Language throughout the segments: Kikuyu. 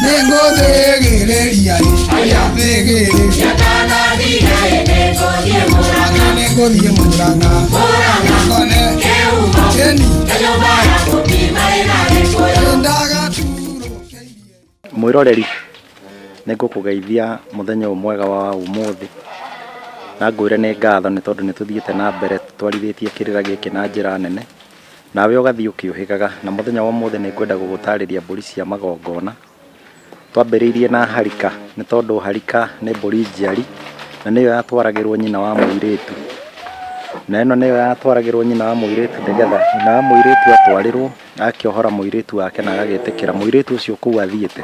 nĩngũthĩgĩrĩria aya thĩgĩrĩria Nĩngũthĩgĩrĩria nĩngũthiĩ mũranga kone keni ndagaturũkĩirie mwĩroreri nĩ ngũkũgeithia mũthenya ũyũ mwega wa ũmũthĩ na ngwĩre nĩ ngatho nĩ tondũ nĩ tũthiĩte na mbere twarithĩtie kĩrĩra gĩkĩ na njĩra nene Nawe ũgathiĩ ũkĩũhĩgaga. Na mũthenya wa ũmũthĩ nĩ ngwenda gũgũtarĩria mbũri cia magongona. Twambĩrĩirie na harika, nĩ tondũ harika nĩ mbũri njiari, na nĩyo yatwaragĩrwo nyina wa mũirĩtu. Na ĩno nĩyo yatwaragĩrwo nyina wa mũirĩtu nĩgetha nyina wa mũirĩtu atwarĩrwo, agakĩohora mũirĩtu wake na agagĩtĩkĩra mũirĩtu ũcio kũu athiĩte,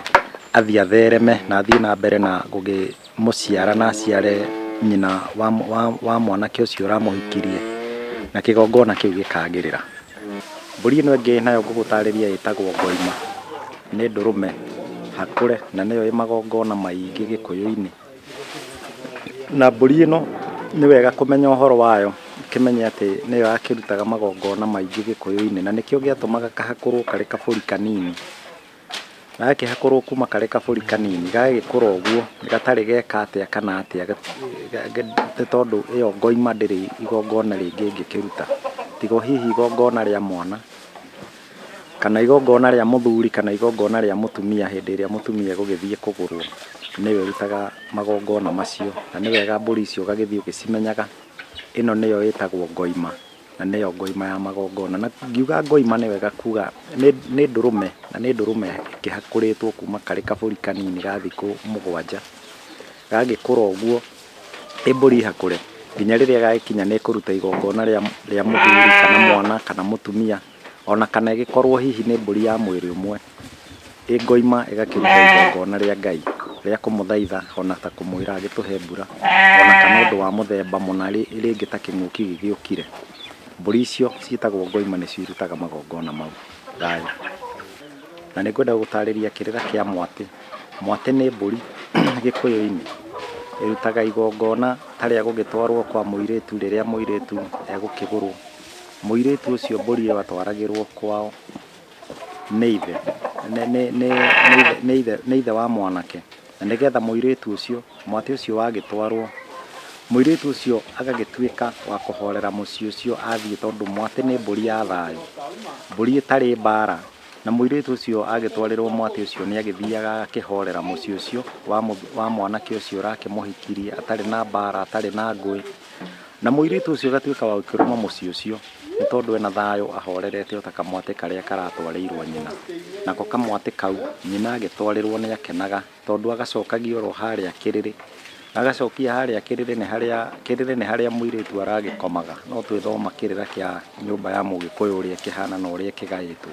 athiĩ athereme na athiĩ na mbere na gũgĩ... mũciara na aciare nyina wa, wa, wa mwanake ũcio ũramũhikirie na kĩgongona kĩu gĩkagĩrĩra mbũri ĩno ĩngĩ nayo ngũgũtarĩria ĩtagwo ngoima nĩ ndũrũme hakũre na nĩyo ĩ magongona maingĩ gĩkũyũ-inĩ na mbũri ĩno nĩ wega kũmenya ũhoro wayo ũkĩmenye atĩ nĩyo yakĩrutaga magongona maingĩ gĩkũyũ-inĩ na nĩkĩo gĩatũmaga kahakũrwo karĩ kabũri kanini. gagakĩhakũrwo kuma karĩ kabũri kanini gagagĩkũra ũguo gatarĩ geka atĩa kana atĩa nĩ tondũ ĩyo ngoima ndĩrĩ igongona rĩngĩ ĩngĩkĩruta tiga o hihi igongona rĩa mwana kana igongona rĩa mũthuri kana igongona rĩa mũtumia hĩndĩ ĩrĩa mũtumia egũgĩthiĩ kũgũrwo nĩwe ũrutaga magongona macio na nĩ wega mbũri icio ũgagĩthiĩ ũgĩcimenyaga ĩno nĩyo ĩtagwo ngoima. na nĩyo ngoima ya magongona. Na ngiuga ngoima nĩ wega kuga nĩ ndũrũme, na nĩ ndũrũme ĩkĩhakũrĩtwo kuma karĩ kabũri kanini ga thikũ mũgwanja. Gagĩkũra ũguo, ĩ mbũri hahũre, nginya rĩrĩa gagĩkinya nĩ kũruta igongona rĩa mũthuri kana mwana kana mũtumia. O na kana ĩgĩkorũo hihi nĩ mbũri ya mwĩrĩ ũmwe, ĩ ngoima ĩgakĩruta igongona rĩa Ngai rĩa kũmũthaitha o na ta kũmwĩra agĩtũhe mbura, o na kana ũndũ wa mũthemba mũna rĩngĩ ta kĩng'ũki gĩgĩũkire, mbũri icio ciĩtagwo ngoima nĩcio irutaga magongona mau. Thayũ. Na nĩ ngwenda gũgũtaarĩria kĩrĩra kĩa mwatĩ. Mwatĩ nĩ mbũri Gĩkũyũ-inĩ ĩrutaga igongona ta rĩa gũgĩtwarũo kwa mũirĩtu rĩrĩa mũirĩtu egũkĩgũrũo. Mũirĩtu ũcio mbũri ĩyo atwaragĩrwo kwao nĩ ithe, nĩ, nĩ, nĩ, nĩ ithe, nĩ ithe, nĩ ithe wa mwanake. Na nĩgetha mũirĩtu ũcio, mwatĩ ũcio wagĩtwarwo, mũirĩtu ũcio agagĩtuĩka wa kũhorera mũciĩ ũcio athiĩ tondũ mwatĩ nĩ mbũri ya thayũ, mbũri ĩtarĩ mbara. Na mũirĩtu ũcio agĩtwarĩrwo mwatĩ ũcio nĩ agĩthiaga agakĩhorera mũciĩ ũcio wa, wa mwanake ũcio ũrakĩmũhikirie atarĩ na mbara, atarĩ na ngũĩ. Na mũirĩtu ũcio ũgatuĩka wa gũkĩrũma mũciĩ ũcio, nĩ tondũ ena thayũ ahorerete o ta kamwatĩ karĩa karatwarĩirwo nyina. Nako kamwatĩ kau nyina agĩtwarĩrwo nĩ akenaga, tondũ agacokagia oro harĩa kĩrĩrĩ. Agacokia harĩa kĩrĩrĩ nĩ harĩa, kĩrĩrĩ nĩ harĩa mũirĩtu aragĩkomaga. No twĩthoma kĩrĩra kĩa nyũmba ya mũgĩkũyũ ũrĩa kĩhana na ũrĩa kĩgaĩtwo.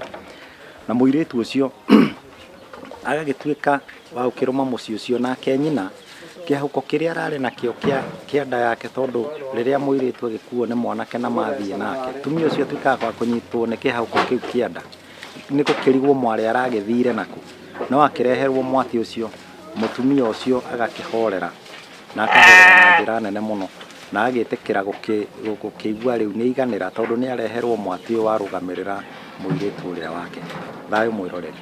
Na mũirĩtu ũcio... agagĩtuĩka wa gũkĩrũma mũciĩ ũcio nake nyina kĩhũko kĩrĩa ararĩ nakĩo kĩa kĩa nda yake tondũ rĩrĩa mũirĩtu agĩkuo nĩ mwanake na mathiĩ nake tumia ũcio atuĩkaga wa kũnyitwo nĩ kĩhũko kĩu kĩa nda nĩ gũkĩrigwo mwarĩ aragĩthire naku no akĩreherwo mwatĩ ũcio mũtumia ũcio agakĩhorera na akahorera na njĩra nene mũno na agĩtĩkĩra gũkĩigua rĩu nĩ aiganĩra tondũ nĩ areherwo mwatĩ ũyũ warũgamĩrĩra mũirĩtu ũrĩa wake. Thayũ mwĩroreri.